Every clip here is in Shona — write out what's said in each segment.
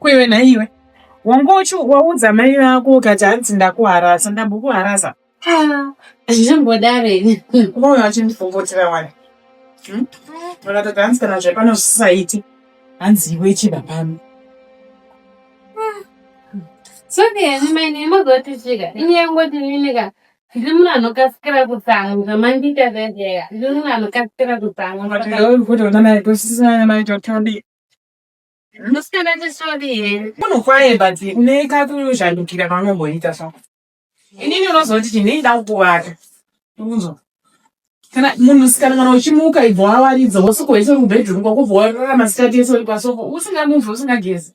kwewe naiwe wangochi waudza mai vako ukati hanzi ndakuharasa ndambokuharasa zvimbodare umoyo wachindifongotera wani hmm? vakatoti hanzi kana zvepano zvisaiti hanzi iwe chiba pano soke yani maine magotisvika inyangoti ninika Ndiri munhu anokasira kutsamwa mandiita zvezera. Ndiri munhu anokasira kutsamwa. But I don't put on my glasses and my totally. Musikana tisori here? Munhu kwaye but une kakuzhandukira kaunongoita so. Inini unozoti chinei ndakukuvaka. Unzo. Kana munhu sikana kana uchimuka ibva wawaridza usiku hwese mubedroom kwako bva warara masikati ese uri pasoko usingamuvi usingagezi.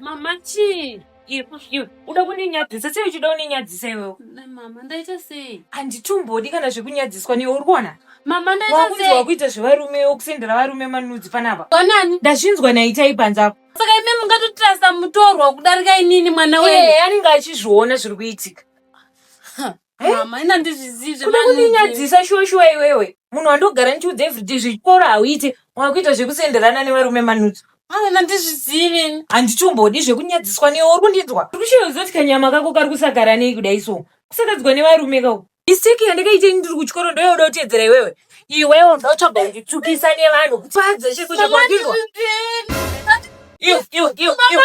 Mama chii? Uda kundinyadzisa sei uchida undinyadzisa iwewe? Mama ndaita sei? Handitumbodi kana zvekunyadziswa newe uri kuona? Mama ndaita sei? Wakuita zvevarume wokusendera varume manudzi panapa. Wanani? Ndazvinzwa naitai panze apo. Saka imi mungatotirasa mutorwa kudarika inini mwana wenyu. Iye anenge achizviona zviri kuitika. Eh? mama ina ndizvizivi kuda kundinyadzisa shuwa shuwa iwewe munhu wandogara ndichiudza everyday zvechikoro hauite wakuita zvekusenderana nevarume manutso mama ina ndizvizivi handichombodi zvekunyadziswa newe uri kundinzwa uri kushaya kuziva kuti kanyama kako kari kusagara nei kudai so kusakadzwa nevarume kako mistake yandakaita ini ndiri kuchikoro ndoyauda kutedzera iwewe iwewe unotsvaga kunditsukisa nevanhu kupadza chekuchakwadinwa iwe iwe iwe iwe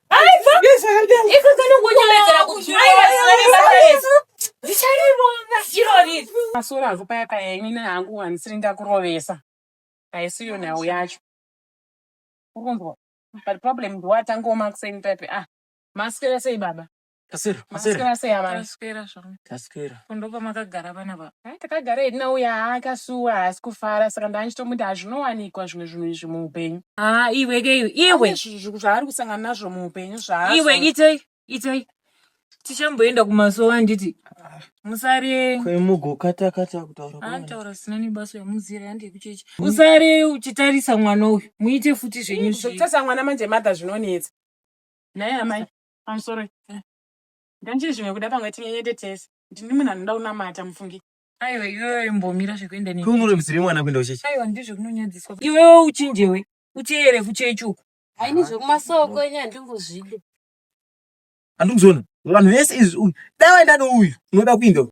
masoro hangu paya paya ini hangu handisiri ndakurovesa haisiyo nhau yacho ukunzwa but problem ndiwatangoma kuseni type ah masikira sei baba Taswera, maswera. Maswera sei amai? Taswera zvangu. Taswera. Kundopa makagara vana va. Hai takagara hedu nauya akasuwa haasi kufara saka ndaandichitomuti hazvinowanikwa zvimwe zvinhu izvi muupenyu. Ah, iwe ke iwe. Iwe. Zvinhu zvaari kusangana nazvo muupenyu zvaazvo. Iwe itai. Itai. Tichamboenda kumasowa handiti. Musare. Kwemugokata kata kutaura. Ah, taura sina nebaso yamuzira yandi kuchechi. Musare uchitarisa mwana uyu. Muite futi zvenyu. Zvekutasa mwana manje mother zvinonetsa. Naye amai. I'm sorry. Eh. Nganjiri zvimwe kuda pamwe tinyenyete tese. Ndini munhu anoda kunamata mufungi. Aiwa iwewe imbomira zvekuenda ne. Kunoremusire mwana kuenda uchechi. Aiwa ndizvo kunonyadziswa. Iwewe uchinjewe. Uteere kuchechi uko. Haini zvekumasoko enye handingozvide. Handikuzona. Vanhu vese izvi uyu. Dai waenda nouyu. Unoda kuenda uyu.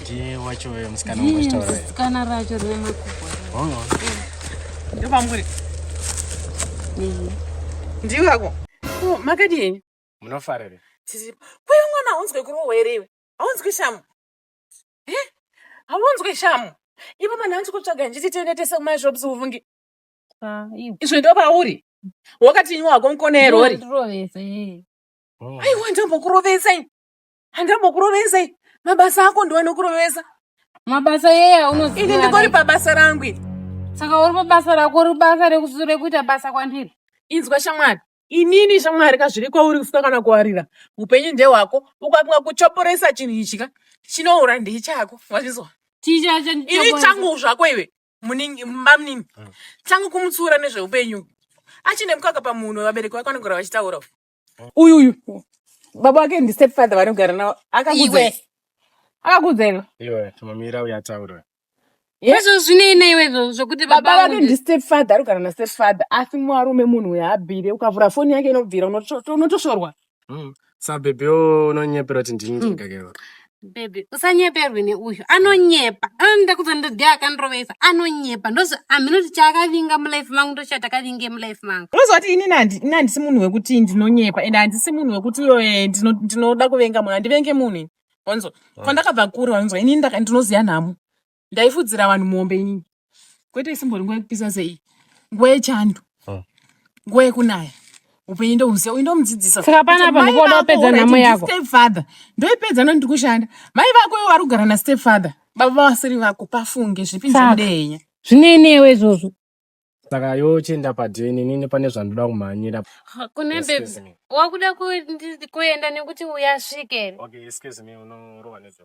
ndiye wacho uyo musikana wangozvitaura uyo. sikana racho rine makubwa Oh, Ndo pamuri. Ehe. Ndiwe ako. Ko makadii? munofarire Tiri. Kwe mwana haunzwe kurohwa here iwe? Haunzwe shamu. Eh? Haunzwe shamu. Ipo mwana hanzi kutsvaga njiti tiende tese kuma shops uvunge. Ah, iwe. Izvo ndo pauri. Wakati nywa hako mkonero uri. Ndirovese, ehe. Oh. Aiwa ndombokurovesa ini. handambokurovesai mabasa ako ndiwe anokurovesa mabasa yeya unoziva ini ndikori pabasa rangu iri saka uri pabasa rako uri basa rekusure kuita basa kwandiri inzwa shamwari inini shamwari ka zviri kwauri kufuka kana kuwarira upenyu ndehwako ukapinga kuchoporesa chinhu ichi ka chinoura ndiye chako wazvizwa ini changu zvako iwe mamunini hmm. changu kumutsiura nezveupenyu achine mukaka pamunhu vabereki vako vanogara vachitaura uyu uyu baba wake ndistep father vanogara navo akakuudza iwe akakuudza iwe iwe tomamira uya taura izvo zvinei neiwe izvo zvokuti baba vake ndistep father ari kugara nastep father asi mwarume munhu uyo abvire ukavhura foni yake inobvira unotoshorwa hmm. sabhebhi unonyepera kuti ndini ndikakeva hmm. Baby, usanyeperwe neuyu anonyepa ndakudza ndodhi akandirovesa anonyepa ndozi hamhino kuti chaakavinga mulife mangu ndochataakavinge mulife mangu unoziva kuti ini ini handisi munhu wekuti ndinonyepa and handisi munhu wekuti eh, ndinoda kuvenga munhu handivenge munhu wanzwa ah. kwandakabva kure wanzwa ini ndinoziva nhamo ndaifudzira vanhu mombe inini kwete isimbori nguva yekupisa sei nguva yechando Ah. nguva yekunaya upenyu ndohuziva uyu ndomudzidzisa Saka panapa Kuti mai ndikuona vako, wapedza alright, nhamo ndi yako. stepfather ndoipedza nondiri kushanda mai vako ivo vari kugara nastepfather baba vasiri vako pafunge zvipi Saka. zvekudenya Zvinei newe izvozvo? saka yochenda padeni nini pane zvandoda kumhanyira kune Excuse baby me. wakuda kuenda nekuti uyasvike here Okay, excuse me, unorova nezve.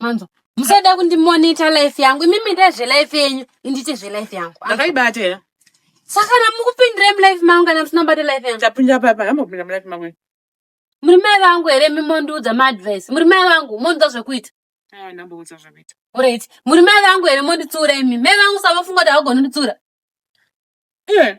manzwa musada kundimonita life yangu imimi ndee zvelife yenyu indiite zvelife yangu ndakaibata here saka kana mukupindira mulife mangu kana musina kubata life yangu tapinda papa amopinda mulife mangu muri mai vangu here mimondiudza maadvice muri mai vangu mondiudza zvekuita ndamboudza zvekuita orit muri mai vangu here monditsiura imi mai vangu savafunga kuti havagoni nditsiura iye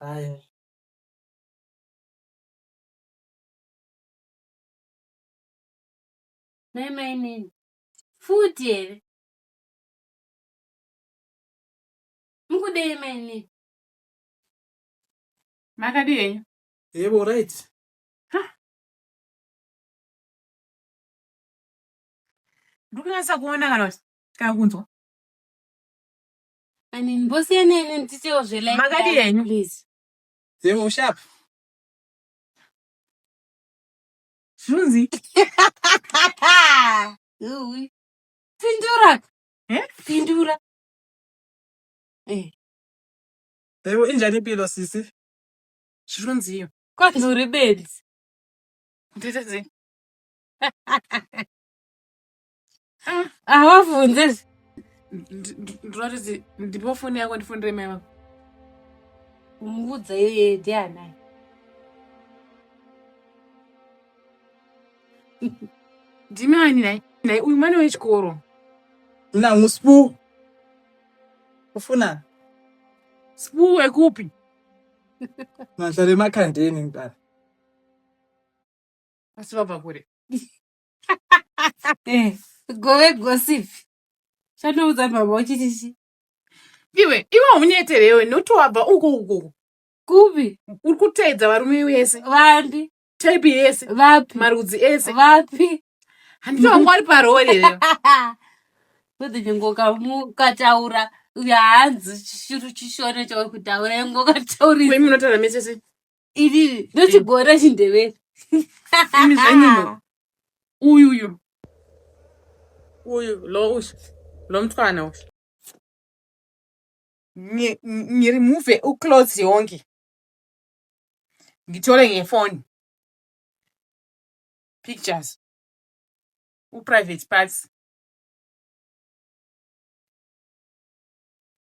Haya. Nhai mainini. Futi here? Mukudei mainini? Makadii henyu? Yebo, right. Ndikunyasa kuona kana kuti kana kunzwa. I mean, mbosiyana ine nditewo zvelife Makadi yangu, henyu. please. Then ushap. Zvinonzi Uwi. Pindura. Eh? Pindura. Eh, Yebo injani impilo sisi? zvinonziyo. kwati uri bedzi. Nditadze. Hawavhunze. Ndinoratidzi ndipo foni yako ndifonere mai vako. Umuudza yeye ndianai. Ndimi ani nhai? Nhai uyu mwana wechikoro. Nangu Sbu. Ufuna? Sbu wekupi? Mazvare makandeni mdara. Asi vabva kure. Eh, gove gossip chatoudza baba uchiti chi iwe iwe unyetere iwe noti wabva uko uko uko. kupi uri kuteedza varume vese vapi type yese vapi marudzi ese vapi handiti vanga vari parori here kuti chingoka mukataura uya hanzi chishuru chishona chauri kutaura ingokataurisa kwe munotaura mese se Iri ndochigore chindevere. Imi zvenyu no. Uyu uyu. Uyu lo uyu. Lo mtwana uyu. Ngi- ngi- Ngiremove uclothes yonke. Ngitore ngefoni. Pictures. Uprivate parts.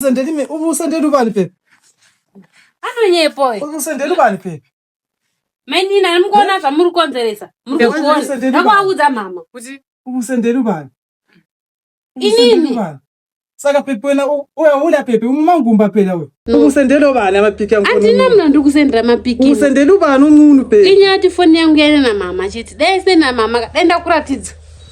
Musendeni me umusendeni ubani pepi? Anonyepo uyu. Umusendeni ubani pepi? Mainini nani mukuona zvamuri kukonzeresa. Muri Ndekuti kuona. musendeni ubani. Ndakuaudza mama. Kuti Umusendeni ubani? Inini. Umusendeni ubani? Saka pepi wena u- uya uda pepi umumangumba pera uyu. No. Umusendeni ubani amapiki angu. Andina mna ndiri kusendera mapiki. Umusendeni ubani umunhu pepi? Inyati foni yangu yaine na mama chete. Dai sina mama ka. Dai ndakuratidza.